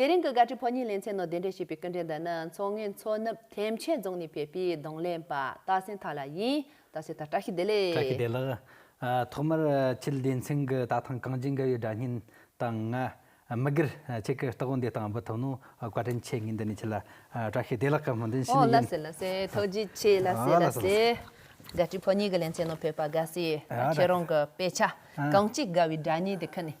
དེ་རིང་གི་བཀའ་ཁྲི་ཕོ་ཉའི་ལེ་ཚན་ནང་གདན་འདྲེན་བྱས་པའི་སྐུ་འཕྲེང་འདི་ནི་མཚོ་སྔོན་མཚོ་ནུབ་ཐེམ་ཆེན་རྫོང་ནས་ཕེབས་པའི་གདོང་ལེན་པ་རྟ་སེང་ཐར་ལགས་ཡིན། རྟ་སེང་ཐར་བཀྲ་ཤིས་བདེ་བཀྲ་ཤིས་ལེགས། བདེ་ལགས། ཐོག་མར་ཁྱེད་སྡེ་ཚན་གྱི་ལྟ་སྟངས་གངས་ཅན་དགའ་བའི་སྒྲ་སྙན་དང་ང། མི་སྒེར། ཁྱེད་ཀྱི་རྟགས་བུ་འདི་དང་འབུ་ཐུམ་ནོ་བཀའ་དྲིན་ཆེ་ངེས་འདི་ནས་ཁྱེད་ལ་བཀྲ་ཤིས་བདེ་ལགས་བཀའ་སྨོན་འདོན་ཕྱི་ཨོ་ནས་ལ་ཡིན། སེ་ལ་སེ་ཐུགས་རྗེ་ཆེ་ལ་སེ་ལ་སེ། བཀའ་ཁྲི་ཕོ་ཉའི་གི་ལེ་ཚན་ནང་ཕེབས་པ་དགའ་སེ། ཁྱེད་རང་གི་དཔེ་ཆ་གངས་ཅན་དགའ་བའི་སྒྲ་སྙན་དེ་ཁུར་ནས།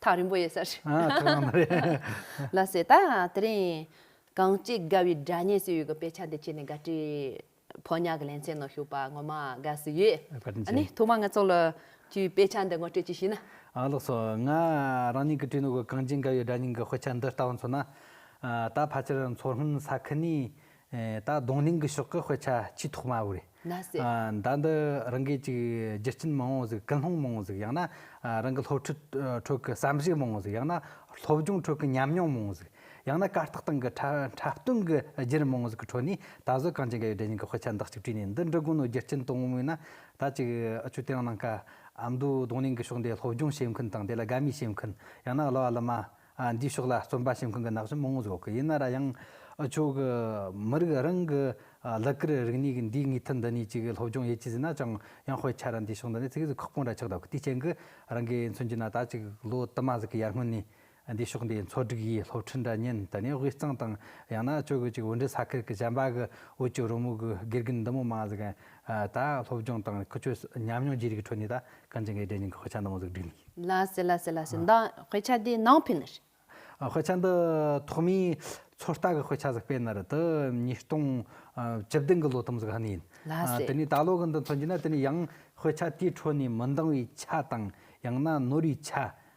ཐག་རིང་པོ་ཡོད་ས་རེད། ཨ་ཐག་རིང་པོ་རེད། ལ་སྲིད་ད་དེ་རིང། གངས་སྐྱིད་དགའ་བའི་སྒྲ་སྙན་ཟེར་ཡོད་གི་དཔེ་ཆ་འདི་ཁྱེར་ནས་དགའ་བྲིས། ཕོ་ཉག་གི་ལན་ཚན་ནང་ཞུགས་པ་ངོ་མ་དགའ་བསུ་ཡོད། ཨ་ནི་ཐོག་མ་ང་ཚོ་ལ་ཁྱོའི་དཔེ་ཆ་འདི་ངོ་སྤྲོད་ཅིག་བྱས་ན། ཨ་ལགས་སོ། ང་རང་ཉིད་ཀྱིས་བྲིས་འདུག་གི་གངས་སྐྱིད་དགའ་བའི་སྒྲ་སྙན་གྱི་དཔེ་ཆ་འདི་ལྟ་བུ་མཚོན་ན། ད་ཕར་ཆེར་མཚོ་སྔོན་ས་ཁུལ་ནས་ད་རྡུང་གླིང་གི་ཕྱོགས་ཀྱི་དཔེ་ཆ་ཆེས་ཐོག་མ་བོ་རེད། ཟླ་འདི་རང་གིས་ཅིག་རྒྱུ་རྐྱེན་མང་བོ་ཟིག་སྐུལ་སློང་མང་བོ་ཟིག་ཡང་ན་རང་གི་སློབ་ཁྲིད་ཁྲོད་ཀྱི་བསམ་གཞིགས་མང་བོ་ཟིག་ཡང་ན་སློབ་སྦྱོང་ཁྲོད་ཀྱི་ཉམས་མྱོང་མང་བོ་ཟིག་ཡང་ན་ཀ་རྟགས་སྟེང་གི་འཁྲབ་སྟོན་གྱི་བརྒྱུད་རིམ་མང་བོ་ཟིག་གི་ཁྲོད་ནས་ད་གཟོད་གངས་ཅན་དགའ་ཡོད་བདེ་ཆེན་གྱི་དཔེ་ཆ་འདི་གཅིག་བྲིས་ནས་འདི་འབྲི་དགོས་ནོ་རྒྱུ་རྐྱེན་དོན་དངོས་མིན་ན་ད་ཅིག་ཨ་ཆོས་དེ་རིང་གནང་དཀའ་ཨ་མདོའི་རྡུང་གླིང་གི་ཕྱོགས་འདིའི་སློབ་སྦྱོང་བྱེད་མཁན་དང་དེ་ལ་དགའ་མོས་བྱེད་མཁན་ཡང་ན་གླུ་བ་གླུ་མ། འདིའི་ཕྱོགས་ལ་བརྩོན་པ་བྱེད་མཁན་གྱི་ནག་ཆུ་མང་བོ་བཟོ་གི་ཡིན་ན་ར་ཡང། ཁྱོད་ཀྱི་མི་རིགས་རང་གི་གླུ་གར་རིག་གནས་ཀྱི་འདིའི་ངེས་མཐུད་འདི་གཉིས་ཅིག་གི་སློབ་སྦྱོང་ཡས་ཀྱི་ཟིན་ན་ཅང་ཡང་དཔེ་ཆ་ར་འདིའི་ཕྱོགས་འདི་ནས་ཚིག་གཟུགས་ཁག་པོ་འདྲ་ཆགས་འདུག་དེའི་རྐྱེན་གྱིས་རང་གིས་མཚོན་རྒྱུ་ན་ད་ཅིག་ལོ་དུ་མ་ཟིག་གི་ཡར་སྔོན་ནས་འདིའི་ཕྱོགས་འདིའི་མཚོ་སྒྲིག་ཡས་སློབ་ཁྲིད་འདྲ་བརྙན་དུ་ནས་དབུས་གཙང་དང་ཡང་ན་ཁྱོད་ཀྱི་ཅིག་འོད་འདྲེ་ས་ཁུལ་གྱི་བྱམས་པ་གྱི་བོད་ཀྱི་རོལ་མོ་གྱི་དགེ་རྒན་འདི་མོ་མ་ཟིག་གི་ད་ཡང་སློབ་སྦྱོང་དང་ཁུ་ཆོས་ཉམས་མྱོང་བརྗེ་རེས་ཀྱི་ཁྲོད་ནས་ད་གང་ཅི་འགའི་རྒྱ་རྙིང་གི་དཔེ་ཆ་ནང་མ་གཟུགས་བསྒྲིགས་ནས། ལ་སི་ལ་སི་ལ་སི་ཟླ་དཔེ་ཆ་འདི་ནང་ཕེབས་ནི་རེད། དཔེ་ཆ་འདི་ཐོག་མའི་ཚོད་ལྟ་གི་དཔེ་ཆ་ཟིག་དཔེ་ནི་རེད་དེ་ཉིས་སྟོང་བཅུ་བདུན་གྱི་ལོ་དུམ་ཟིག་ཧ་ནི་ཡིན། ལ་སི། དེ་ནས་ད་ལོ་གི་འདི་མཚོན་གྱི་ན་དེ་ནི་ཡང་དཔེ་ཆ་དེའི་ཁྲོད་ནས་མི་འདང་བའི་ཆ་དང་ཡང་ན་ནོར་བའི་ཆ་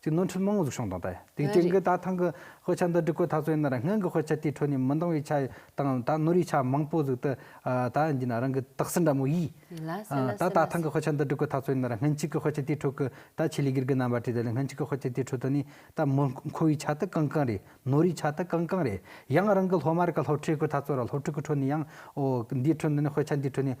གཅིག་ནོར་འཁྲུལ་མང་གཟུགས་བྱུང་དང་ལྟ། དེའི་རྐྱེན་གྱིས་ད་ཐེངས་ཀྱི་དཔེ་ཆ་འདི་སྒྲིག་སྐོར་ཐག་གཅོད་ཡིན་ན་ར་སྔོན་གྱི་དཔེ་ཆ་དེའི་ཁྲོད་ནས་མི་འདང་བའི་ཆ་དང་ད་ནོར་བའི་ཆ་མང་པོ་གཟུགས་ཏེ། ད་ཡིན་ན་རང་གི་དག་སེལ་འདྲ་མོ་ཡིས། ད་ད་ཐེངས་ཀྱི་དཔེ་ཆ་འདི་སྒྲིག་སྐོར་ཐག་གཅོད་ཡིན་ན་ར་སྔོན་གཅིག་གི་དཔེ་ཆ་དེའི་ཁྲོད་ཀྱི་ད་ཆེད་ལས་སྒེར་གྱི་རྣམ་པ་བྲིས་ཏེ་ར་སྔོན་གཅིག་གི་དཔེ་ཆ་དེའི་ཁྲོད་དུ་ནས་ད་མི་མཁོ་བའི་ཆ་དེ་གང་གང་རེད་ནོར་བའི་ཆ་དེ་གང་གང་རེད་ཡང་རང་གི་སློབ་མ་རེ་ག་སློབ་ཁྲིད་སྐོར་ཐག་གཅོད་ར་སློབ་ཁྲིད་ཀྱི་ཁྲོད་ནས་ཡང་འོ་འདིའི་ཁྲོད་འདི་ནས་དཔེ་ཆ་འདིའི་ཁྲོད་ནས།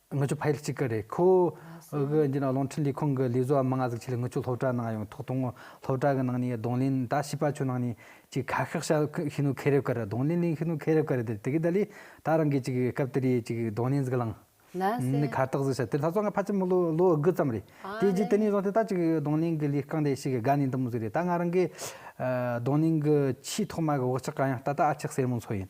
ངི་ཆོ་ཕ་ཡུལ་གཅིག་གི་རེད་ཁོ། གི་འདི་ནི་གླིང་ཕྲན་ལས་ཁུངས་གི་ལས་བཟོ་བ་མི་ལྔ་གཟིགས་ཆེད་ལ་ངི་ཆོ་སློབ་གྲྭ་ནང་ཡོང་ཐོག་དང་སློབ་གྲྭ་གི་ནང་ནས་གདོང་ལེན་ད་བྱས་པ་ཆོས་ནང་ནས་ཅིག་ཁ་ཤགས་ཤགས་ཤི་ནུ་ཁེ་རེབ་ཀར་གདོང་ལེན་ལེན་ཤི་ནུ་ཁེ་རེབ་ཀར་དེ་དེ་གི་ད་ལི་ད་རང་གིས་ཅིག་སྐབས་དེ་རིའི་ཅིག་གདོང་ལེན་གཟིགས་ལང། ལན་ནི་གསལ། ཁ་རྟགས་གཟིགས་བྱ་དེ་ལྷ་ས་ང་ཕ་ཆེན་མོ་ལོ་ལོ་དགུ་ཙམ་རེད་དེ་རྗེས་དེ་ནས་བཟུང་སྟེ་ད་ཅིག་གདོང་ལེན་གི་ལས་རྐང་དེ་ཤི་གི་དགའ་ནས་འདི་མོ་ཟིག་རེད་ད་ང་རང་གིས་གདོང་ལེན་གི་ཆེས་ཐོག་མ་གི་བག་ཆགས་གང་ཡང་ལྟ་ལྟ་ཨ་ཆགས་སེར་མོ་མཚོ་ཡིན།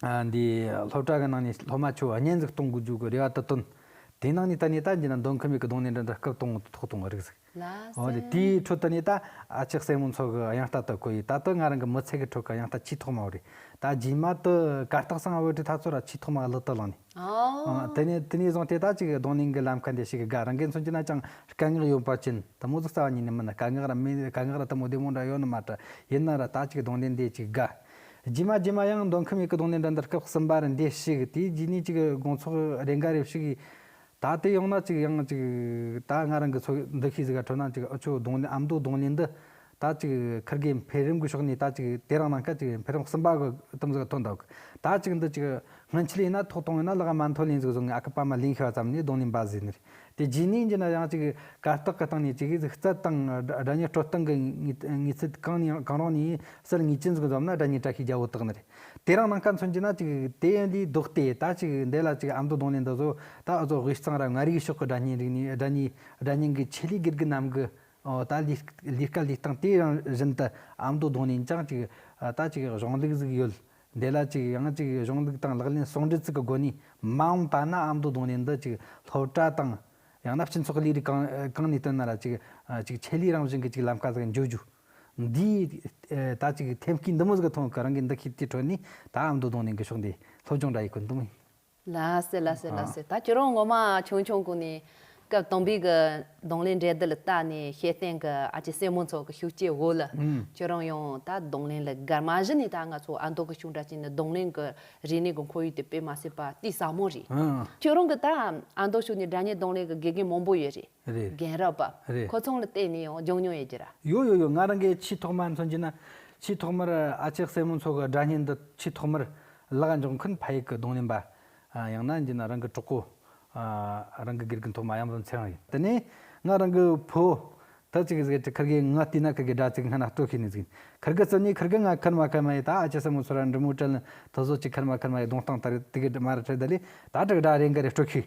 སློབ་གྲྭ་གི་ནང་ནས་སློབ་མ་ཆུ་བ་བརྙན་གཟིགས་གཏོང་དགོས་རྒྱུ་གི་རེ་བ་ད་བཏོན། དེའི་ནང་ནས་ད་ནས་ད་འཇིག་ན་འདོན་ཁི་མེད་གི་གདོང་ནས་འདྲ་འདྲ་སྐབས་སྟོང་ངོ་དུ་ཐོག་སྟོང་གི་རིགས་གཟིགས། དེའི་ཁྲོད་དུ་ནས་ད་ཨ་ཅག་སྲས་མོ་མཚོ་གི་གཡང་རྟ་དོད་གོ་ཡི་ད་ལྟ་ང་རང་གི་མི་ཚེ་གི་ཁྲོད་ཀྱི་གཡང་རྟ་ཆེས་ཐོག་མ་བོ་རེད་ད་རྗེས་མ་དུ་གར་སྟག་ཚང་བོད་གྲི་ཐ་ཚོ་ར་ཆེས་ཐོག་མ་གླུ་དུ་བླངས་ནས། དེ་ནས་དེ་ནས་བཟུང་དེ་དག་ཅིག་གི་གདོང་ནས་གི་ལམ་ཁ་འདི་ཞིག་གི་དགའ་རང་གིས་མཚོན་གྱི་ན་ཅང་དཀའ་ངལ་ཡོད་པར་བྱིན་དུ་མོ་གཟུགས་རྩ་བ་ཉིད་ནས་མིན་ན་དཀའ་ངལ་ར་མིན་དཀའ་ངལ་ར་དུ་མོ་བདེ་མོ་འདྲ་ཡོད་ནི་མ་གྲུ་ཡིན་ན་ར་ད་ཅིག་གདོང་ནས་འདི་ཅིག་གི་དགའ། རྗེས་མ་རྗེས་མ་ཡང་མདོ་ཁམས་ཡུལ་གྱི་སྡོང་ནས་འགྲན་ཟླར་སྐབས་གསུམ་པར་འདས་ཤིག་དེའི་རྗེས་ནས་ཅིག་དགོངས་ཚོགས་རེ་འགའ་རེ་ཞིག་ད་དེ་ཡོང་ན་ཅིག་ཡང་ཅིག་ད་ང་རང་གི་ཚོ་འདུ་ཤེས་གཟིགས་ཀ་འཕྲོད་ན་ཅིག་ཨ་ཆོས་སྡོང་ནས་ཨ་མདོའི་སྡོང་ནས་འདི་ད་ཅིག་འཁུར་དགོས་འཕེལ་རིམ་གྱི་ཕྱོགས་ནས་ད་ཅིག་དེ་རང་ནང་སྐད་ཅིག་འཕེལ་རིམ་གསུམ་པ་གི་གཏམ་གཟིགས་ཀ་ཐོན་འདུག་ད་ཅིག་འདི་ཅིག་སྔོན་ཆད་ལས་ན་ཐོག་དང་ཡོད་ན་ལག་མ་མཐོ་ལེན་གཟིགས་བཟོ་ངས་ཨ་ཁུ་པ་མ་ལེན་ཤེས་པ་ཙམ་ནས་སྡོང་ནས་འབའ་གཟིགས་ནས། དེ་རྗེས་ནས་ཀྱི་ན་ཡང་ཅིག་གར་སྟེགས་ཀྱི་སྟེང་ནས་ཅིག་རྩལ་དང་སྒྲ་ཉིད་སྤྲོ་སྟངས་ཀྱི་ངེས་ཚིག་གང་ནས་ཡང་གང་རུང་ནས་གསེར་ངོས་ཅན་ཟུག་འཛོམ་ན་སྒྲ་ཉིད་བཀྲ་ཤིས་རྒྱལ་པོ་དག་ནི་རེད། དེ་རང་ནང་སྐད་མཚོན་གྱི་ན་ཅིག་དེ་ཡིན་དུས་བདོག་སྟེ་ད་ཅིག་འདི་ལ་ཅིག་ཨམ་དུ་གདོང་ལེན་འདི་བཟོ་ད་ཨུ་ཚོགས་དབུས་གཙང་ར་མངའ་རིས་ཕྱོགས་ཀྱི་སྒྲ་སྙན་རིག་ནས་སྒྲ་ཉིད་སྒྲ་སྙན་གྱི་ཆེད་ལས་དགེ་རྒུ་རྣམས་ཀྱི་ད་ལས་ཀ་ལས་སྟངས་དེ་རང་བཞིན་དུ་ཨམ་དུ་གདོང་ལེན་ཅིང་ཅིག་ད་ཅིག་གཞུང་ལུགས་གཟིགས་ཡོད་འདི་ལ་གཅིག་ཡང་གཅིག་གཞུང་ལུགས་དང་ལག་ལེན་ཟུང་འབྲེལ་ཚུལ་གྱི་སྒོ་ནས་མ་འོངས་པ་ན་ཨ་མདོ་གདོང་ལེན་འདི་གཅིག་སློབ་གྲྭ་དང། ཡང་ན་སྤྱི་ཚོགས་ཀྱི་ལས་རིགས་གང་ནས་བཏོན་ན་ར་གཅིག་གཅིག་ཆེད་ལས་རང་བཞིན་གྱི་གཅིག་ལམ་ཀ་ཟིག་འཇོག་རྒྱུ། འདིའི་ད་གཅིག་ཐེམ་སྐས་འདི་མོ་ཟིག་གི་ཐོག་གི་རང་གི་འདུ་ཤེས་དེའི་ཁྲོད་ནས་ད་ཨ་མདོ་གདོང་ལེན་གྱི་ཕྱོགས་འདི་སློབ་སྦྱོང་འདྲ་ཡི་ཀུན་ཏུ། ལ་སེ་ལ་སེ་ལ་སེ་ད་ཁྱོད་རང་ངོ་མ་ཆུང་ཆུང་གོ་ནས་སྐབས་དང་པོའི་གི་གདོང་ལེན་འགྲེལ་བསྡུ་ལ་བལྟ་ནས་ཤེས་བསྟན་གི་ཨ་ཅེ་སེར་མོ་ཚོ་གི་ཤུགས་སྐྱེད་འོག་ལ་ཁྱོད་རང་ཡང་ད་གདོང་ལེན་ལ་སྒར་མ་གཞི་ནས་ད་ང་ཚོ་ཨ་མདོ་གི་ཤུགས་འདྲ་ཅན་ནི་གདོང་ལེན་གི་རིག་གནས་གི་འཁོར་ཡུག་དེ་སྤེལ་མ་ཟེར་པ་དེ་ཟབ་མོ་རེད་ཁྱོད་རང་གི་ད་ཨ་མདོ་ཕྱོགས་ནས་དགྲ་གཉེན་གདོང་ལེན་གི་དགེ་རྒན་མང་པོ་ཡོད་རེད་རྒན་རབས་པ་ཁོ་ཚང་ལ་བལྟས་ནས་ཡང་སྦྱོང་མྱོང་ཡོད་རྒྱུ་ར། ཡོད་ཡོད་ཡོད་ང་རང་གི་ཆེས་ཐོག་མར་མཚོན་རྒྱུ་ན་ཆེས་ཐོག་མར་ཨ་ཅེ་སེར་མོ་ཚོ་གི་དགྲ་གཉེན་འདི་ཆེས་ཐོག་མར་གླགས་འཇོག་མཁན་ཕ་ཡིག་གི་གདོང་ལེན་པ། ཡང་ན་འདི་ནི་རང་གི་གྲོགས་པོ། རང་གི་དགེ་རྒན་ཐོག་མ་ཡང་ཟེར་ཚད་རང་ཡིན། དེ་ནས་ང་རང་གི་བུ། ཐ་ཚིག་ཟེར་གྱི་འཁར་གའི་ངག་ལྟས་ན་འཁར་གའི་སྒྲ་ཚིག་སྔ་ན་སྤྲོ་ཤེས་ནས་ཟིག། འཁར་གའི་རྩ་ནས་འཁར་གའི་ངག་འཁར་མ་འཁར་མ་ཡི་ད་ཨ་ཅེ་ས་མོ་ཚོ་ར་འབྲི་མོ་བྲལ་ནས་ཐོ་བཟོ་ཅིག་འཁར་མ་འཁར་མ་ཡི་གདོང་སྟངས་ལྟར་དེ་གའི་མ་ར་བྲལ་ད་ལས་ད་དྲག་སྒྲ་རེ་འགའ་རེ་སྤྲོ་ཤེས།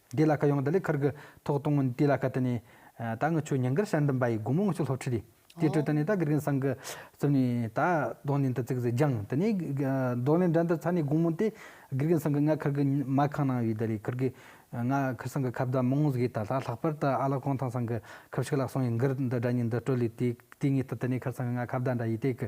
འདི་ལ་ཁ་ཡོང་ད་ལི་ཁར་གི་ཐོག་གཏོང་མིན་དེ་ལ་ཁ་དེ་ནི། ད་ངི་ཆོས་ཉིན་གར་ཤར་འདུམ་པ་ཡི་དགུང་མོ་ངི་ཆོས་སློབ་ཁྲི་དེ་དེ་དྲོད་ད་ནི་ད་གི་རིང་སང་གི་ཙུམ་ནི་ད་རྡོ་ནི་འདི་ཙིག་ཟི་རྒྱང་དེ་ནི་རྡོ་ནི་འདྲ་འདི་ཚ་ནི་དགུང་མོ་དེ་གི་རིང་སང་གི་ང་ཁར་གི་མ་ཁང་ནང་ཡོད་ད་ལི་ཁར་གི་ང་ཁར་སང་གི་ཁབ་ད་མོང་གཟིགས་ད་ལྷག་ལྷག་པར་ད་ཨ་ལག་གོང་ཐང་སང་གི་ཁབ་ཤིག་ལག་སོང་ཡི་འགུར་འདི་འདྲ་ཉིན་འདི་དྲོད་ལི་དེ་དེ་ངི་ད་དེ་ནི་ཁར་སང་གི་ང་ཁབ་ད་འདྲ་ཡི་དེ་གི་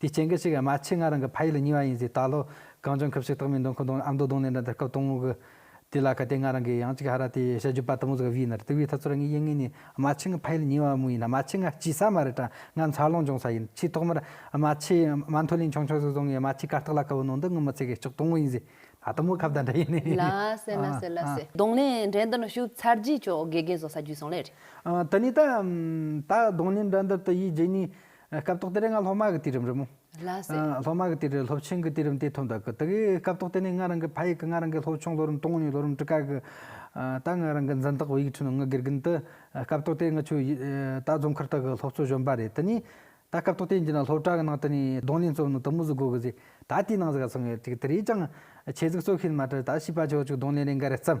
དེའི་སྐྱེ་འགལ་ཞིག་གི་རྨ་ཆུས་ང་རང་གི་ཕ་ཡུལ་ལ་ཉེ་བ་ཡིན་ཟེར་ད་ལོ་གངས་ལྗོངས་ཁབ་ཞིག་རྟགས་མའི་འདུ་འཁོར་གདོང་ནས་ཨ་མདོ་གདོང་ལེན་དང་འདྲ་སྐབས་སྟོང་གི་དུས་ལ་ག་དེ་ང་རང་གི་ཡང་ཅིག་ཧ་ར་དེ་ཤ་རྒྱུད་པ་དང་པོ་ཟིག་བིས་ན་རེད་དེ་བིས་ཐ་ཚོར་ངའི་ཡིད་ངོས་ནས་རྨ་ཆུས་ང་ཕ་ཡུལ་ཉེ་བ་མོ་ཡིན་ན་རྨ་ཆུས་ང་སྐྱིད་ས་མ་རེད་དྲ་ང་འཚར་ལོངས་འབྱུང་ས་ཡིན་ཆེས་ཐོག་མར་རྨ་ཆུས་རྨ་མཐོ་ལན་ཆུང་ཆུང་ཟིག་བཟོ་ངས་རྨ་ཆུས་ཀ་རྟགས་ལ་དཀར་བོ་ནོར་འདི་ངུ་མི་ཚེ་གི་ལྕགས་སྟོང་ངོ་ཡིན་ཟེར་ད་དུང་མོ་ཁ་བརྡ་འདྲ་ཡིན་ནི་ལ་སེ་ལ་སེ་ལ་སེ། གདོང་ལེན་འགྲན་འདི་ནི་བཞུགས་ཚར་རྗེས་ཆོ་ག་དགེ་རྒན་བཟོ་ས་བརྒྱུད་སོང་ལེ་རེད། དེ་ནས་ད་ད་གདོང་ལེན་འགྲན་འདི་དུ་ཡིས་རྗེས་ནས་སྐབས་ཐོག་དེ་རེས་ང་སློབ་མ་གི་དུས་རིམ་རེད་མོ། ལ་སེ། སློབ་མ་གི་དུས་རེས་སློབ་ཆེན་གི་དུས་རིམ་དེ་ཐོག་མཐའ་གི་དེ་གི་སྐབས་ཐོག་དེ་ནས་ང་རང་གི་ཕ་ཡིག་གི་ང་རང་གི་སློབ་ཆུང་ལོ་རིམ་སྟོང་གཉིས་ལོ་རིམ་བཀྲིས་ཀ་གི་ད་ང་རང་གི་འཛིན་བདག་བོད་ཡིག་ཁྲིད་ནང་ང་དགེ་རྒན་དུ་སྐབས་ཐོག་དེ་ང་ཆུ་ཡིད་ད་རྫོང་མཁར་དག་གི་སློབ་གཙོ་གཞོན་པ་རེད་དེ་ནས་ད་སྐབས་ཐོག་དེ་འདི་ན་སློབ་གྲྭ་གི་ནང་དུ་ནས་གདོང་ལེན་གཙོ་བོ་ནི་དུ་མུ་ཟི་དགོས་གི་ཟི་ད་དེའི་ནང་ཟི་ག་སོང་ཡོད་ཅིག་དེ་རེས་ཀྱང་ཆེ་ཟིག་གཙོ་ཤེས་མ་ཏྲི་ད་བྱིས་པ་ཆོག་ཅིག་གདོང་ལེན་རེ་འགའ་རེ་བརྩམས།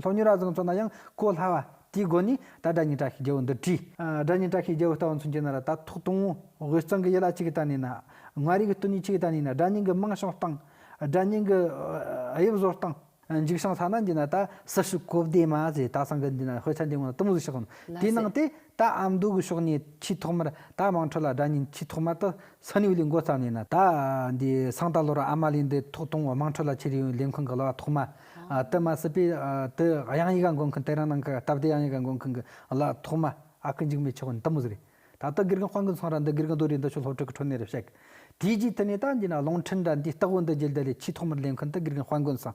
ལྷོ་མྱུར་ར་བཟང་ཚོ་ན་ཡང་གོ་སླ་བ། དེའི་སྒོ་ནས་ད་སྒྲ་སྙན་གྲགས་ཤིག་རྒྱལ་བོ་འདི་བྲིས། སྒྲ་སྙན་གྲགས་ཤིག་རྒྱལ་བོ་ལྟ་བུ་མཚོན་གྱི་ན་ར་ད་ཐོག་དུང་བོ་དབུས་གཙང་གི་ཡི་ལ་གཅིག་གི་ལྟ་ནས་ན། མངའ་རིས་ཀྱི་སྟོད་གཉིས་གཅིག་གི་ལྟ་ནས་ན་སྒྲ་སྙན་གྱི་རྨང་བྱང་བཏང། སྒྲ་སྙན་གྱི་དབྱིབས་བཟོ་བཏང། འཇིགས་བྱང་ས་ན་འདི་ན་ད་སུ་ཞིག་གོ་བདེ་མ་ཟེ་ད་ཚང་གི་འདི་ན་དཔེ་ཆ་འདི་སྔོན་ལ་གཏུམ་བཟོ་བྱས་སོང། དེའི་ནང་དེ། ད་ཨམ་མདོ་གི་ཕྱོགས་ནས་ཆུའི་ཐོག་མར་ད་དམངས་ཁྲོད་ལ་སྒྲ་སྙན་ཆུའི་ཐོག་མར་དུ་ས་ནིའུ་ལི་མགོ་བརྩམས་ནས་ན་ད་འདི་སང་ད་ལོ་རུ་ཨ་མ་ལི་འདི་ཐོག་གཏོང་དམངས་ཁྲོད་ལ་ཆེ་རིགས་ལས་འཁུང་གི་གླ་བ་ཐོག་མ་དུ་མ་སྲིད་པས་དུ་དབྱངས་ཡིག་ག་འགོ་མཁན་དེ་རང་ནང་གི་སྟབས་བདེ་དབྱངས་ཡིག་ག་འགོ་མཁན་གི་གླ་བ་ཐོག་མ་ཨ་ཁུ་འཇིགས་མེད་ཆོས་དབོན་དུ་མུ་ཟི་རེད་ད་ལྟ་དགེ་རྒན་དཔང་གི་ཚང་ར་འདི་དགེ་རྒན་རྡོ་རི་འདི་ཆུ་ལྷོ་ཁྲུག་གི་ཁྲོད་ནས་རུ་བཤད་གི་དེའི་རྗེས་དེ་ནས་ད་འདི་ན་ལུང་འཕྲིན་ར་འདིའི་སྟག་བུ་འདི་རྒྱལ་དར་ལའི་ཆུའི་ཐོག་མར་ལས་འཁུན་དུ་དགེ་རྒན་དཔང་གི་ཚང།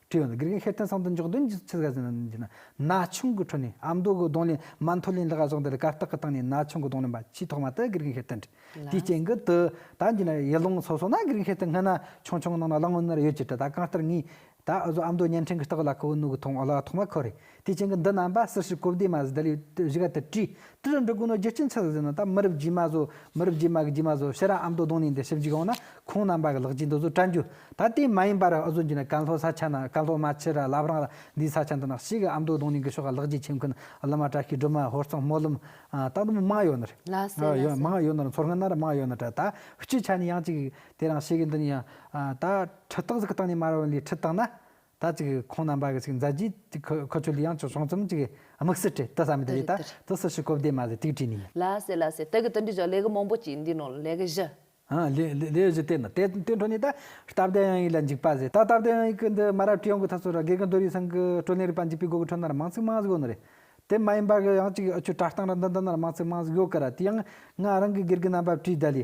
སྤྲེའུ་ནི་དགེ་རྒན་ཤེར་ཕྲེང་ཚང་དུ་འཇོག་འདོན་གྱི་ཚུལ་དགའ་ཟས་ནང་འདྲེན་གྱིས་ན་ན་ཆུང་གི་ཁྲོད་ནས་ཨ་མདོ་གི་གདོང་ལེན་མ་མཐོ་ལེན་ལྷག་ག་ཟོག་འདི་ལ་གར་སྟེགས་ཀྱི་སྟེང་ནས་ན་ཆུང་གི་གདོང་ལེན་པ་ཆེས་ཐོག་མ་དེ་དགེ་རྒན་ཤེར་ཕྲེང་བྲིས་དེའི་སྤྱན་གྱི་དུ་ད་འདི་ན་ཡི་ལུང་སོ་སོ་ན་དགེ་རྒན་ཤེར་ཕྲེང་སྔ་ན་ཆུང་ཆུང་ནང་ན་གླང་བུ་ནར་ཡོད་ཀྱི་གྲི་ད་གང་ལྟར་ངས་ད་ཨ་ཟོ་ཨ་མདོ་བརྙན་འཕྲིན་གྱི་སྟེགས་ལ་ཁོ་བོའི་སྣུག་གི་ཐུང་ཨོ་ལ་ཐོག་མ་ཁོ་རེ་དེ་བྱིངས་ཀྱི་འདི་རྣམ་པ་སུ་ཞིག་གོ་བདེ་མ་ཟི་དལ་ཡུལ་དུ་བཞི་ག་དུར་ཁྲི་ཏི་རུ་འབྲི་དགོས་ནོ་རྒྱུ་རྐྱེན་ཆི་ཟི་ཟི་ན་ད་མི་རབས་རྗེས་མ་བཟོ་མི་རབས་རྗེས་མ་གི་རྗེས་མ་བཟོ་ཕྱི་ར་ཨམ་དོ་དོང་ནས་འདི་ཞིབ་འཇུག་ཡོང་ན་ཁོང་རྣམ་པ་གི་ལག་རྗེས་འདི་བཟོ་བཀྲ་འགྱུར་ད་དེ་མ་ཡིན་པ་ར་ཨུ་བཟོ་རྒྱུ་ན་ཀན་ལྷོ་ས་ཆ་ན་ཀན་ལྷོ་མ་ཕྱི་ར་ལབ་རང་ར་འདིའི་ས་ཆ་འདི་ན་གཤིས་ཀྱི་ཨམ་དོ་དོང་ནས་གི་ཕྱོགས་ག་ལག་རྗེས་ཁྱིམ་ཁུན་བླ་མ་བཀྲ་ཤིས་སྒྲོལ་མ་ཧོར་གཙང་སྨོན་ལམ་ད་འདི་མང་ཡོད་ནི་རེད། ལ་སེ་ལ་སེ། མང་ཡོད་ནི་རེད་མཚོ་སྔོན་ན་ར་མང་ཡོད་ནི་རེད་ད་སྤྱི་ཆ་ནས་ཡང་ཅིག་དེ་རང་ཤེས་ཀྱི་འདི་ནས་ཡང་ད་ཁྲི་སྟག་ཟིག་གི་སྟེང་ནས་མ་ར་བ་ལས་ཁྲི་སྟག་ན་ད་ཅིག་ཁོང་རྣམ་པ་གི་ཅིག་མཛའ་བརྒྱུད་ཅིག་ཁུ་ཁུ་ཆུ་ལི་ཡང་ཆུ་ཆུང་ཙུམ་ཅིག་དམིགས་བསལ་བྲིས་ཏི་ས་མི་དེ་རེད་ད་དུ་སུ་ཞིག་གོ་བདེ་མ་ཟེར་ཏིག་བྲིས་ནི་ཡིན། ལ་སེ་ལ་སེ་ད་གི་ཏི་འདི་ཅོག་ལེ་གི་མང་པོ་ཅིག་འདི་ནོ་ལེ་གི་བཞི། ཧང་ལེ་ལེ་ལེ་བཞི་དེ་ནོ་དེ་དེ་འཕྲོ་ནི་ད་སྟབས་བདེ་ཡང་ཡིག་ལ་འཇིགས་པ་ཟེར་ད་སྟབས་བདེ་ཡང་ཡིག་གི་འདི་མ་རབས་ཀྱི་ཡང་གི་ཐ་སོ་ར་དགེ་གི་མདོ་རིགས་ཚང་གི་བཀྲོལ་ལེན་རིག་པ་འཇིགས་པའི་སྒོ་གི་འཕྲོ་ན་ར་མང་ཚིག་མང་ཟིག་ཡོད་ནོ་རེད་དེ་མ་ཡིན་པ་གི་ཡང་ཅིག་ཨུ་ཆུ་བཀྲ་བཏང་ར་འདི་འདི་ན་ར་མང་ཚིག་མང་ཟིག་ཡོད་གི་ར་དེ་ཡང་ང་རང་གི་སྒེར་གི་རྣམ་པ་བྲིས་ད་ལི་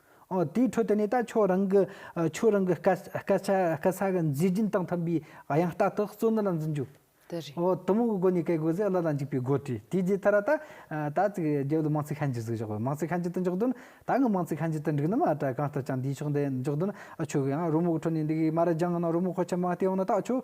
ཨོ། དེའི་ཁྲོད་དུ་ནས་ད་ཁྱོད་རང་གི་ཁྱོད་རང་གི་སྐད་སྐད་ཆ་སྐད་ཆ་གི་མཛེས་རྒྱན་དང་མཐུན་པའི་དབྱངས་རྟ་དག་གཙོ་གནད་ལ་འཛིན་རྒྱུ། དེ་རེད། ཨོ། དུམ་བུ་གི་སྒོ་ནས་བཀལ་དགོས་ཚེ་བླ་ལ་འཇུག་པའི་སྒོ་དྲི་དེའི་རྗེས་ཐར་ད། ད་ཙིག་རྒྱལ་པོ་ལ་མང་ཚིག་ཤན་འབྱེད་ཟིག་བཞག་དགོས་མང་ཚིག་ཤན་འབྱེད་དུ་འཇོག་དོན་ད་ངས་མང་ཚིག་ཤན་འབྱེད་དུ་འགྲིག་ནམ་ཨ་བྲ་གང་ལྟར་ཀྱང་འདིའི་ཕྱོགས་འདི་འཇོག་དོན་ཨ་ཁྱོད་ཀྱིས་ཨ་རོལ་མོ་གི་ཁྲོད་ནས་འདི་གའི་མ་ར་རྒྱང་ངང་ན་རོལ་མོ་ཁོ་ཆེན་མ་སྟེ་འོ་ན་ད་ཁྱོད་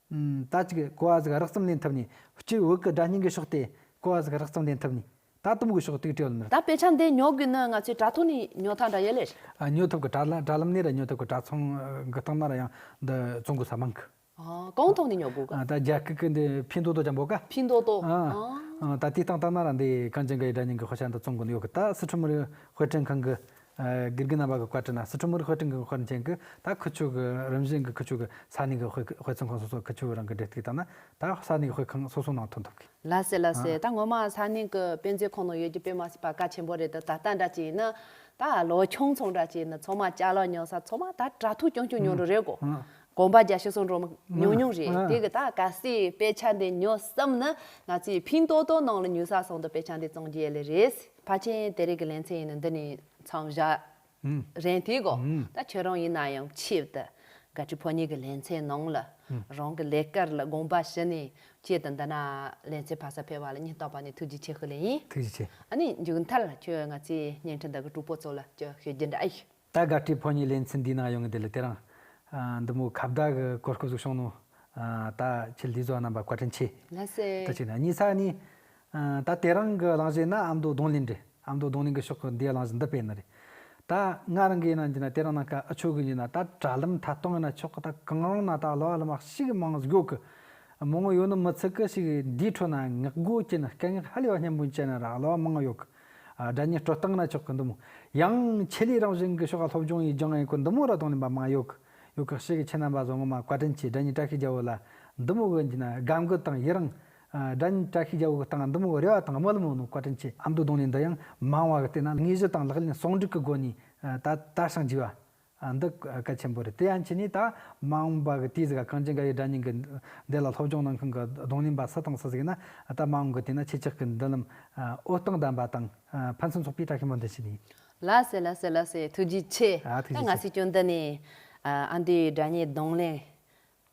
ད་ཅིག་གོ་བ་ཟིག་རགས་ཙམ་ལེན་ཐུབ་ནས་སྤྱིར་བོད་ཀྱི་སྒྲ་སྙན་གྱི་ཕྱོགས་ཏེ་གོ་བ་ཟིག་རགས་ཙམ་ལེན་ཐུབ་ནས་ད་དུམ་གྱི་ཕྱོགས་ཏིག་ཏིག་ཡོད་མི། ད་དཔེ་ཆ་འདི་ཉོ་དགོས་ན་ང་ཚོའི་དྲ་ཐོག་ནས་ཉོ་ཐང་འདྲ་ཡོད་ལེ། ཉོ་ཐུབ་གི་དྲ་ལམ་ནས་རེད་ཉོ་ཐུབ་གི་དྲ་ཚོང་གི་སྟེང་ན་རེད་ཡང་འདི་བཙོང་དགོས་ས་མང་གི། གང་ཐོག་ནས་ཉོ་དགོས་གི། ད་རྒྱ་སྐད་ཀྱི་འདི་ཕིན་ཏོ་ཏོ་ཅམ་པོ་ག། ཕིན་ཏོ་ཏོ། ད་དེའི་སྟེང་ལྟ་ན་ར་འདི་གངས་ཅན་གྱི་སྒྲ་སྙན་གྱི་དཔེ་ཆ་འདི་བཙོང་དགོས་ནི་ཡོད་གི་ད་སི་ཁྲོན་མི་རིགས་དཔེ་སྐྲུན་ཁང་གི་དགེ་རྒན་རྣམ་པ་གི་བཀའ་ཁྲི་ན་སི་ཁྲོན་མུ་རི་དཔལ་སྤྲིང་གིས་དཔེར་མཚོན་གྱིས་ད་ཁུ་བྱུག་གི་རིམ་བཞིན་གྱི་ཁུ་བྱུག་གི་ས་གནས་ཀྱི་དཔེ་མཚོན་ཁང་སོ་སོར་ཁུ་བྱུག་རང་གི་འབྲེལ་གཏུགས་བཏང་ན་ད་ས་གནས་ཀྱི་དཔེ་ཁང་སོ་སོའི་ནང་ཐོན་ཐུབ་གི། ལ་སེ་ལ་སེ་ད་ངོ་མ་ས་གནས་ཀྱི་དཔེ་མཛོད་ཁང་ནང་ཡོད་ཀྱི་དཔེ་མ་སྲིད་པ་ག་ཆེན་པོ་རེད་ད་ད་ལྟ་འདྲ་ཅིག་ཡིན་ན་ད་ལོ་ཆུང་ཚོང་འདྲ་ཅིག་ཡིན་ན་ཚོང་མ་བཅའ་ལག་ཉོ་ས་ཚོང་མ་ད་དྲ་ཐུག་ཀྱང་ཀྱང་ཉོ་འགྲོ་རེད་གོ་གོམ་པ་རྒྱ་ཤོ་སོང་འགྲོ་མ་ཉུང་ཉུང་རེད་དེ་གི་ད་ག་སེ་དཔེ་ཆ་འདི་ཉོ་བསམ་ན་ང་ཚོའི་ཕིང་ཏོ་ཏོ་ནང་ལ་ཉུལ་ས་སོང་དུ་དཔེ་ཆ་འདི་བཙོང་རྒྱུ་ཡལ་ལེ་རེད། ཕ་ཆེན་དེ་རིགས་ཀྱི་ལན་ཚིགས་ཡིན་ནོ་འདི་ནི་འཚང་བཞག་རན་ཐིག་གོ། ད་ཁྱོད་རང་ཡིན་ན་ཡང་ཕྱིར་དུ་དགའ་བྲིས་ཕོ་ཉས་ཀྱི་ལན་ཚན་ནང་ལ་རང་གི་ལས་དཀར་ལ་དགོངས་པ་བཞི་ནས་བསྐྱེད་དུ་འདི་ན་ལན་ཚིགས་ཕ་ས་འཕེལ་བ་ལ་ཉིན་རྟོག་པ་ནི་ཐུགས་རྗེ་ཆེ་ཧཱུྃ་ལས་ཡིན། ཐུགས་རྗེ་ཆེ། ཨ་ནི་མཇུག་མཐར་ཁྱོད་ང་ཚོའི་བརྙན་འཕྲིན་དག་གི་གྲུག་པོ་ཚོ་ལ་ཅི་ཞུ་རྒྱུ་འདྲ་ཨེ་ཡོད། ད་དགའ་སྤྲེལ་ཕོ་གཉིས་ལེན་ཚུལ་འདིའི་ནང་ཡོང་གི་འདི་ལ་དེ་རང། འདི་མོ་ཁ་བརྡ་གི་གོ་སྐབས་སུ་ཤོང་ནོ། ད་ཁྱེད་ལས་བཟོ་བ་རྣམས་པ་བཀའ་དྲིན་ཆེ། ལྷ་སྲས། ད་ཅིག་ན་གཉིས་ས་ནི། ད་དེ་རང་གི་གླང་གཞས་ན་ཨ་མདོ་རྡུང་ལེན་འདྲེ་ཨ་མདོ་རྡུང་ལེན་གི་ཕྱོགས་ཀྱི་འདིའི་གླང་གཞས་འདི་སྤེལ་ནི་རེད། ད་ང་རང་གིས་ན་འདི་ན་དེ་རང་ན་ཀ་ཨ་ཆོས་གི་འདི་ན་ད་དྲ་ལམ་མཐའ་སྟོང་གི་ན་ཕྱོགས་ཀྱི་ད་གང་རང་ན་ད་ལོ་ཨ་ལ་མ་ཤི་གི་མང་གཞོག་གི། མོ་ངོ་ཡོད་ནི་མི་ཚིག་གི་ཤིག་འདིའི་ཁྲོད་ན་ངག་སྒོ་ཀྱི་ན་སྐད་ངག་ཧ་ལས་པ་སྙན་པོ་འཆད་ནི་ར་ལོ་མང་གཞོག་གི། སྒྲ་ཉི་སྤྲོ་སྟངས་ར་ཆོག་གི་འདུག་མོད། ཡང། ཆེད་ལས་རང་བཞིན་གྱི་ཤོག་ཁག་སློབ་སྦྱོང་ཡིས་སྦྱང་ཡས་ཀུན་འདུ་མོ་ར་དང་ལེན་པ་མང་ཡོད་གི། ཡོད་གི་ཤེས་གི་ཁྱེད་རྣམ་པ་བཟང་ངོ་མ་བཀའ་དྲིན་ཆེ་སྒྲ་ཉི་བཀྲ་ཤིས་རྒྱལ་བོ་ལ་འདུ་མོ་གི་ན་དགའ་མགུ་དང་ཡི་རང། སྒྲ་ཉི་བཀྲ་ཤིས་རྒྱལ་བོ་གི་སྟངས་འདུ་མོ་གི་རེ་བ་དང་དམོད་རྨོ་ནོ་བཀའ་དྲིན་ཆེ། ཨ་མདོ་གདོང་ལེན་འདི་ཡང་མང་བ་གི་བལྟས་ན་དངོས་གཞི་དང་ལག་ལེན་ཟུང་འགྲིག་གི་སྒོ་ནས་ད་ལྟ་བྱང་རྒྱས་པ། ཨ་འདི་ཀ་ཆེན་པོ་རེད་དེ་ཡང་ཁྱེད་ནས་ད་མང་བ་གི་དུས་ཟིག་ག་གངས་ཅན་འགའ་ཡི་དགྲ་གཉེན་གི་འདས་ལ་སློབ་སྦྱོང་གནང་མཁན་གི་གདོང་ལེན་པ་སུ་དང་སུ་ཟིག་ཡིན་ན་ད་མང་གི་དུས་ན་ཁྱེད་ཅག་གི་མདུན་ལམ་ཨོ་སྟོང་ལྡན་པ་དང་ཕན་ཚུན་ཚོགས་པའི་བཀྲ་ཤིས་མངོན་དུ་བྱེད་ནུས། ལ་སེ་ལ་སེ་ལ་སེ་ཐུགས་རྗེ་ཆེ། ཨ་ཐུགས་རྗེ་ང་ཆེ། སྲིད་སྐྱོང་འདི་ནས་ཨ་འདི་ཡི་དགྲ་གཉེན་གདོང་ལེན།